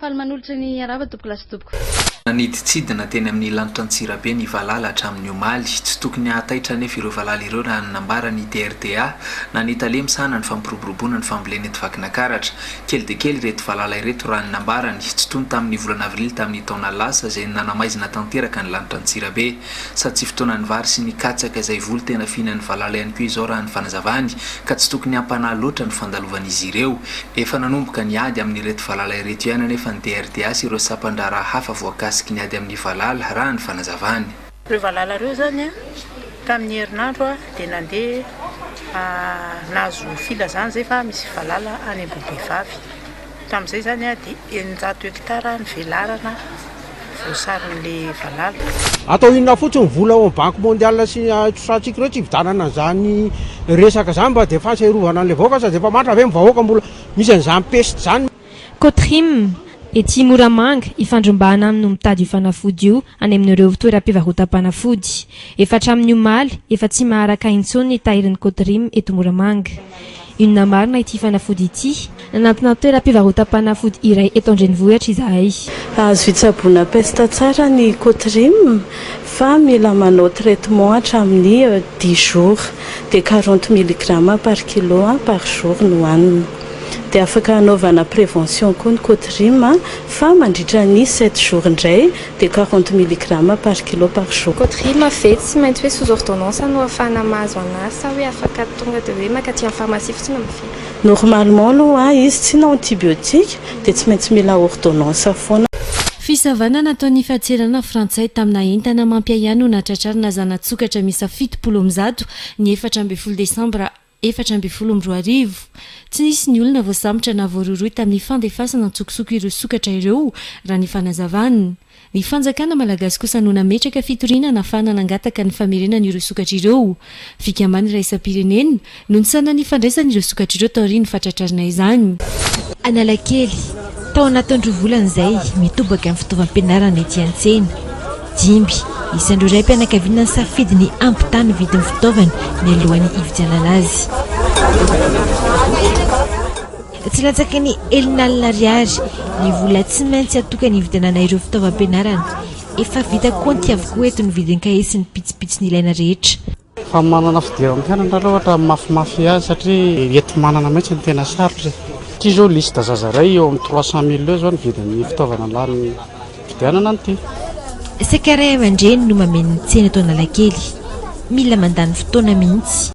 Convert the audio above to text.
Faly manolotra ny harava tompoko lahy sy tompoko vavy. Nanidintsidina teny amin'ny lanitra Antsirabe ny valala hatramin'ny omaly. Tsy tokony hahataitra anefa ireo valala ireo raha ny nambaran'ny DRDA na ny tale misahana ny fampiroboroboana ny fambolena eto Vakinakaratra. Kely dia kely ireto valala ireto raha ny nambarany. Tsy toy ny tamin'ny volana avrily tamin'ny taona lasa izay nanamaizina tanteraka ny lanitra Antsirabe. Sady tsy fotoanan'ny vary sy ny katsaka izay voly tena fihinan'ny valala ihany koa izao raha ny fanazavany ka tsy tokony hampanahy loatra ny fandalovan'izy ireo. Efa nanomboka ny ady amin'ireto valala ireto ihany anefa ny DRDA sy ireo sampan-draharaha hafa voakasiky ny ady amin'ny valala raha ny fanazavany. Ireo valala ireo izany tamin'ny herinandro dia nandeha nahazo filazana izay fa misy valala any Ambohibehivavy. Tamin'izay izany dia eninjato hekitara ny velarana voasaron'ilay valala. Atao inona fotsiny ny vola ao amin'ny banky mondial sy ny ahitrosantsikh ireo tsy hividanana an'izany resaka izany mba dia fasa hiarovana an'ilay vahoaka sady efa matra ve ny vahoaka mbola misy an'izany peste izany. Cotrim, ety Moramanga, ifandrombahana aminy no mitady io fanafody io any amin'ireo toeram-pivarotam-panafody. Efa hatramin'ny omaly, efa tsy maharaka intsony ny tahirin'ny Coderim eto Moramanga. Inona marina ity fanafody ity? Nanantona toeram-pivarotam-panafody iray eto an-drenivohitra izahay. Azo hitsaboana pesta tsara ny Coderim fa mila manao traitement hatramin'ny dix jours. Dia quarante milligrammes par kilo par jour no hanina. Dia afaka hanaovana prévention koa ny cotrym fa mandritra ny sept jours indray dia quarante milligrammes par kilo par jour. Cotrym ve tsy maintsy hoe sous ordonnance no afahana mahazo an'azy sa hoe afaka tonga dia hoe mankaty amin'ny pharmacie fotsiny mividy? Normalement aloha izy tsy na antibiotiques dia tsy maintsy mila ordonnance foana. Fisavana nataon'ny Fadserana frantsay tamina entana mampiahiahy no nahatratrarina zana-tsokatra miisa fitopolo amby zato ny efatra ambin'ny folo desambra efatra ambin'ny folo amby roa arivo. Tsy nisy ny olona voasambotra na voarohirohy tamin'ny fandefasana an-tsokosoko ireo sokatra ireo, raha ny fanazavana. Ny fanjakana malagasy kosa no nametraka fitoriana nahafahana nangataka ny famerenana ireo sokatra ireo. Fikambanana iraisam-pirenena no nisaonana ny fandraisana ireo sokatra ireo taorian'ny fahatratrarana izany. Analakely, Tao anatin'ny roa volana izay, mitobaka ny fitaovam-pianarana ety an-tsena. Dimy isan'ireo raim-pianakaviana nisafidy ny hampitaha ny vidin'ny fitaovana nialohan'ny hividianana azy. Tsy latsaky ny enin'alina ariary ny vola tsy maintsy atokana hividianana ireo fitaovam-pianarana. Efa vita kaonty avokoa eto ny vidin-kahie sy ny pitsopitsony ilaina rehetra. Fa manana fidiran'ny mpianatra aloha ohatra mafimafy azy satria eto manana mihitsy no tena sarotra e. Ity izao liste zaza iray eo amin'ny trois cent mille eo izao ny vidin'ny fitaovana lanin'ny fifidianana an'ity. Saika ray aman-dreny no mameno ny tsena eto Analakely. Mila mandany fotoana mihitsy.